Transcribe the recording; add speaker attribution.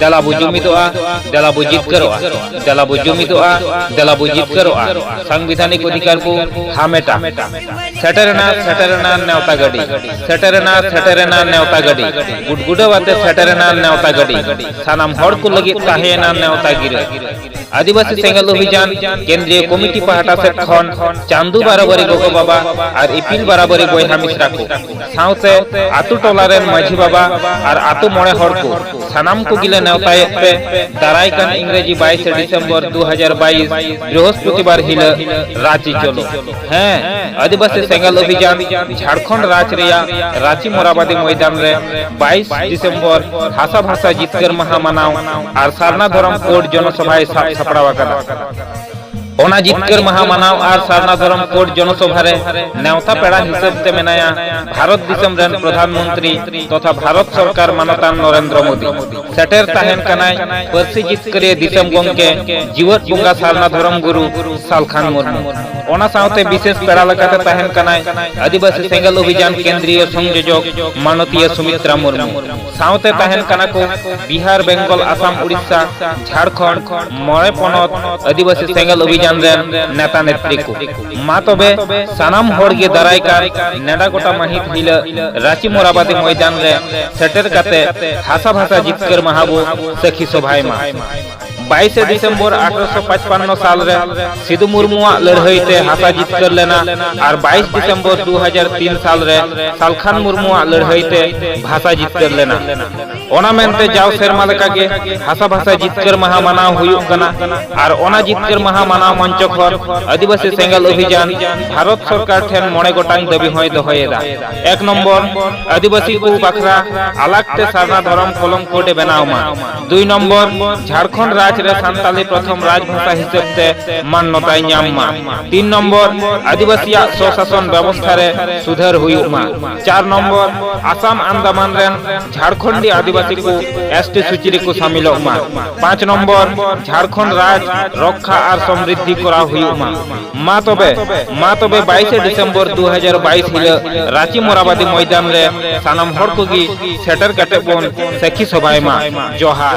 Speaker 1: ᱫᱮᱞᱟ ᱵᱚ ᱡᱩᱢᱤᱫᱚᱜᱼᱟ ᱫᱮᱞᱟ ᱵᱚ ᱡᱤᱛᱠᱟᱹᱨᱚᱜᱼᱟ ᱫᱮᱞᱟ ᱵᱚ ᱡᱩᱢᱤᱫᱚᱜᱼᱟ ᱫᱮᱞᱟ ᱵᱚ ᱡᱤᱛᱠᱟᱹᱨᱚᱜᱼᱟ ᱥᱟᱝᱵᱤᱫᱷᱟᱱᱤᱠ ᱚᱫᱷᱤᱠᱟᱨ ᱵᱚ ᱦᱟᱢᱮᱴᱟ ᱥᱮᱴᱮᱨᱮᱱᱟ ᱥᱮᱴᱮᱨᱮᱱᱟ ᱱᱮᱣᱛᱟ ᱜᱟᱹᱰᱤ ᱥᱮᱴᱮᱨᱮᱱᱟ ᱥᱮᱴᱮᱨᱮᱱᱟ ᱱᱮᱣᱛᱟ ᱜᱟᱹᱰᱤ ᱜᱩᱰᱜᱩᱰᱟᱹᱣ ᱟᱛᱮ ᱥᱮᱴᱮᱨᱮᱱᱟ ᱱᱮᱣᱛᱟ ᱜᱟᱹᱰᱤ ᱥᱟᱱᱟᱢ ᱦᱚᱲ ᱠᱚ ᱞᱟᱹᱜᱤᱫ ᱛᱟᱦᱮᱸᱭᱮᱱᱟ ᱱᱮᱣᱛᱟ ᱜᱤᱨᱟᱹ ᱟᱹᱫᱤᱵᱟᱹᱥᱤ ᱥᱮᱸᱜᱮᱞ ᱚᱵᱷᱤᱡᱟᱱ ᱠᱮᱱᱫᱨᱤᱭᱚ ᱠᱚᱢᱤᱴᱤ ᱯᱟᱦᱴᱟ ᱥᱮᱫ ᱠᱷᱚᱱ ᱪᱟᱸᱫᱩ ᱵᱟᱨᱟᱵᱟᱨᱤ ᱜᱚᱜᱚ ᱵᱟᱵᱟ ᱟᱨ ᱤᱯᱤᱞ ᱵᱟᱨᱟᱵᱟᱨᱤ ᱵᱚᱭᱦᱟ ᱢᱤᱥᱨᱟ ᱠᱚ ᱥᱟᱶᱛᱮ ᱟᱛᱳ ᱴᱚᱞᱟ ᱨᱮᱱ ᱢᱟᱹᱡᱷᱤ ᱵᱟᱵᱟ ᱟᱨ ᱟᱛᱳ ᱢᱚᱬᱮ ᱦᱚᱲ ᱠᱚ ᱥᱟᱱᱟᱢ ᱠᱚᱜᱮ ᱞᱮ ᱱᱮᱣᱛᱟᱭᱮᱫ ᱯᱮ ᱫᱟᱨᱟᱭ ᱠᱟᱱ ᱤᱝᱨᱮᱡᱤ 22 ᱰᱤᱥᱮᱢᱵᱚᱨ 2022 ᱵᱨᱤᱦᱚᱥᱯᱚᱛᱤᱵᱟᱨ ᱦᱤᱞᱚᱜ ᱨᱟᱺᱪᱤ ᱪᱚᱞᱚ ᱦᱮᱸ ᱟᱹᱫᱤᱵᱟᱹᱥᱤ ᱥᱮᱸᱜᱮᱞ ᱚᱵᱷᱤᱡᱟᱱ ᱡᱷᱟᱲᱠᱷᱚᱸᱰ ᱨᱟᱡᱽ ᱨᱮᱭᱟᱜ ᱨᱟᱸᱪᱤ ᱢᱚᱨᱟᱵᱟᱫᱤ ᱢᱚᱭᱫᱟᱱ ᱨᱮ 22 ᱰᱤᱥᱮᱢᱵᱚᱨ ᱦᱟᱥᱟ ᱵᱷᱟᱥᱟ ᱡᱤᱛᱠᱟᱹᱨ ᱢᱟᱦᱟ ᱢᱟᱱᱟᱣ ᱟᱨ ᱥᱟᱨᱱᱟ ᱫᱷᱚᱨᱚᱢ ᱠᱳᱰ ᱡᱚᱱᱚᱥᱚᱵᱷᱟᱭ ᱥᱟᱵ ᱥᱟᱯᱲᱟᱣ ᱟᱠᱟᱫᱟ ᱚᱱᱟ ᱡᱤᱛᱠᱟᱹᱨ ᱢᱟᱦᱟ ᱢᱟᱱᱟᱣ ᱟᱨ ᱥᱟᱨᱱᱟ ᱫᱷᱚᱨᱚᱢ ᱠᱳᱰ ᱡᱚᱱᱚᱥᱚᱵᱷᱟ ᱨᱮ ᱱᱮᱣᱛᱟ ᱯᱮᱲᱟ ᱦᱤᱥᱟᱹᱵ ᱛᱮ ᱢᱮᱱᱟᱭᱟ ᱵᱷᱟᱨᱚᱛ ᱫᱤᱥᱚᱢ ᱨᱮᱱ ᱯᱨᱚᱫᱷᱟᱱ ᱢᱚᱱᱛᱨᱤ ᱛᱚᱛᱷᱟ ᱵᱷᱟᱨᱚᱛ ᱥᱚᱨᱠᱟᱨ ᱢᱟᱱᱚᱛᱟᱱ ᱱᱚᱨᱮᱱᱫᱨᱚ ᱢᱳᱫᱤ ᱥᱮᱴᱮᱨ ᱛᱟᱦᱮᱱ ᱠᱟᱱᱟᱭ ᱯᱟᱹᱨᱥᱤ ᱡᱤᱛᱠᱟᱹᱨᱤᱭᱟᱹ ᱫᱤᱥᱚᱢ ᱜᱚᱢᱠᱮ ᱡᱤᱣᱟᱹᱫ ᱵᱚᱸᱜᱟ ᱥᱟᱨᱱᱟ ᱫᱷᱚᱨᱚᱢ ᱜᱩᱨᱩ ᱥᱟᱞᱠᱷᱟᱱ ᱢᱩᱨᱢᱩ ᱚᱱᱟ ᱥᱟᱶᱛᱮ ᱵᱤᱥᱮᱥ ᱯᱮᱲᱟ ᱞᱮᱠᱟᱛᱮ ᱛᱟᱦᱮᱱ ᱠᱟᱱᱟᱭ ᱟᱹᱫᱤᱵᱟᱹᱥᱤ ᱥᱮᱸᱜᱮᱞ ᱚᱵᱷᱤᱡᱟᱱ ᱠᱮᱱᱫᱨᱤᱭᱚ ᱥᱚᱝᱡᱳᱡᱚᱠ ᱢᱟᱱᱚᱛᱤᱭᱟᱹ ᱥᱩᱢᱤᱛᱨᱟ ᱢᱩᱨᱢᱩ ᱥᱟᱶᱛᱮ ᱛᱟᱦᱮᱱ ᱠᱟᱱᱟ ᱠᱚ ᱵᱤᱦᱟᱨ ᱵᱮᱝᱜᱚᱞ ᱟᱥᱟᱢ ᱩᱲᱤᱥᱥᱟ ᱡᱷᱟᱲᱠᱷᱚᱸᱰ ᱢᱚᱬᱮ ᱯᱚᱱᱚᱛ ᱟᱹᱫᱤᱵᱟᱹᱥᱤ ᱥᱮᱸᱜᱮᱞ ᱚᱵᱷᱤᱡᱟᱱ ᱨᱮᱱ ᱱᱮᱛᱟ ᱱᱮᱛᱨᱤ ᱠᱚ ᱢᱟ ᱛᱚᱵᱮ ᱥᱟᱱᱟᱢ ᱦᱚᱲ ᱜᱮ ᱫᱟᱨᱟᱭ ᱠᱟᱱ ᱱᱮᱰᱟ ᱜᱚᱴᱟ ᱢᱟᱹᱦᱤᱛ ᱦᱤᱞᱟᱹᱜ ᱨᱟᱸᱪᱤ ᱢᱚᱨᱟᱵᱟᱫᱤ ᱢᱚᱭᱫᱟᱱ ᱨᱮ ᱥᱮᱴᱮᱨ ᱠᱟᱛᱮ ᱦᱟᱥᱟ ᱵᱷᱟᱥᱟ ᱡᱤᱛᱠᱟᱹᱨ ᱢᱟᱦᱟ ᱵᱚ ᱥᱟᱹᱠᱷᱤ ᱥᱚᱵᱷᱟᱭ ᱢᱟ ᱵᱟᱭᱤᱥᱮ ᱰᱤᱥᱮᱢᱵᱚᱨ ᱟᱴᱷᱨᱚᱥᱚ ᱯᱟᱸᱪᱯᱟᱱᱱᱚ ᱥᱟᱞ ᱨᱮ ᱥᱤᱫᱩ ᱢᱩᱨᱢᱩᱣᱟᱜ ᱞᱟᱹᱲᱦᱟᱹᱭ ᱛᱮ ᱦᱟᱥᱟ ᱡᱤᱛᱠᱟᱹᱨ ᱞᱮᱱᱟ ᱟᱨ ᱵᱟᱭᱤᱥ ᱰᱤᱥᱮᱢᱵᱚᱨ ᱫᱩ ᱦᱟᱡᱟᱨ ᱛᱤᱱ ᱥᱟᱞ ᱨᱮ ᱥᱟᱞᱠᱷᱟᱱ ᱢᱩᱨᱢᱩᱣᱟᱜ ᱞᱟᱹᱲᱦᱟᱹᱭ ᱛᱮ ᱵᱷᱟᱥᱟ ᱡᱤᱛᱠᱟᱹᱨ ᱞᱮᱱᱟ ᱚᱱᱟ ᱢᱮᱱᱛᱮ ᱡᱟᱣ ᱥᱮᱨᱢᱟ ᱞᱮᱠᱟᱜᱮ ᱦᱟᱥᱟ ᱵᱷᱟᱥᱟ ᱡᱤᱛᱠᱟᱹᱨ ᱢᱟᱦᱟ ᱢᱟᱱᱟᱣ ᱦᱩᱭᱩᱜ ᱠᱟᱱᱟ ᱟᱨ ᱚᱱᱟ ᱡᱤᱛᱠᱟᱹᱨ ᱢᱟᱦᱟ ᱢᱟᱱᱟᱣ ᱢᱚᱧᱪᱚ ᱠᱷᱚᱱ ᱟᱹᱫᱤᱵᱟᱹᱥᱤ ᱥᱮᱸᱜᱮᱞ ᱚᱵᱷᱤᱡᱟᱱ ᱵᱷᱟᱨᱚᱛ ᱥᱚᱨᱠᱟᱨ ᱴᱷᱮᱱ ᱢᱚᱬᱮ ᱜᱚᱴᱟᱝ ᱫᱟᱹᱵᱤ ᱦᱚᱸᱭ ᱫᱚᱦᱚᱭᱮᱫᱟ ᱮᱠ ᱱᱚᱢᱵᱚᱨ ᱟᱹᱫᱤᱵᱟᱹᱥᱤ ᱠᱚ ᱵᱟᱠᱷᱨᱟ ᱟᱞᱟᱜᱽ ᱛᱮ ᱥᱟᱨᱱᱟ ᱫᱷᱚᱨᱚᱢ ᱠᱚᱞᱚᱢ ᱠᱳᱰ ᱮ ᱵᱮᱱᱟᱣ ᱢᱟ ᱫᱩᱭ ᱱᱚᱢᱵᱚᱨ ᱡᱷᱟᱲᱠᱷᱚᱸᱰ ᱨᱟᱡᱽ ᱨᱮ ᱥᱟᱱᱛᱟᱞᱤ ᱯᱨᱚᱛᱷᱚᱢ ᱨᱟᱡᱽ ᱵᱷᱟᱥᱟ ᱦᱤᱥᱟᱹᱵ ᱛᱮ ᱢᱟᱱᱱᱚᱛᱟᱭ ᱧᱟᱢ ᱢᱟ ᱛᱤᱱ ᱱᱚᱢᱵᱚᱨ ᱟᱹᱫᱤᱵᱟᱹᱥᱤᱭᱟᱜ ᱥᱚᱥᱟᱥᱚᱱ ᱵᱮᱵᱚᱥᱛᱷᱟ ᱨᱮ ᱥᱩᱫᱷᱟᱹᱨ ᱦᱩᱭᱩᱜ ᱢᱟ ᱪᱟᱨ ᱱᱚᱢᱵᱚᱨ ᱟᱥᱟᱢ ᱟᱱᱫᱟᱢᱟᱱ ᱨᱮᱱ ᱡᱷᱟᱲᱠᱷᱚᱸᱰᱤ ᱟᱹᱫᱤᱵᱟᱹᱥᱤ ᱠᱚ ᱮᱥᱴᱤ ᱥᱩᱪᱤ ᱨᱮᱠᱚ ᱥᱟᱢᱤᱞᱚᱜ ᱢᱟ ᱯᱟᱸᱪ ᱱᱚᱢᱵᱚᱨ ᱡᱷᱟᱲᱠᱷᱚᱸᱰ ᱨᱟᱡᱽ ᱨᱚᱠᱠᱷᱟ ᱟᱨ ᱥᱚᱢᱨᱤᱫᱷᱤ ᱠᱚᱨᱟᱣ ᱦᱩᱭᱩᱜ ᱢᱟ ᱢᱟ ᱛᱚᱵᱮ ᱢᱟ ᱛᱚᱵᱮ ᱵᱟᱭᱤᱥᱮ ᱰᱤᱥᱮᱢᱵᱚᱨ ᱫᱩ ᱦᱟᱡᱟᱨ ᱵᱟᱭᱤᱥ ᱦᱤᱞᱳᱜ ᱨᱟᱸᱪᱤ ᱢᱚᱨᱟᱵᱟᱫᱤ ᱢᱚᱭᱫᱟᱱ ᱨᱮ ᱥᱟᱱᱟᱢ ᱦᱚᱲ ᱠᱚᱜᱮ ᱥᱮᱴᱮᱨ ᱠᱟᱛᱮ ᱵᱚᱱ ᱥᱟᱹᱠᱷᱤ ᱥᱚᱵᱷᱟᱭ ᱢᱟ ᱡᱚᱦᱟᱨ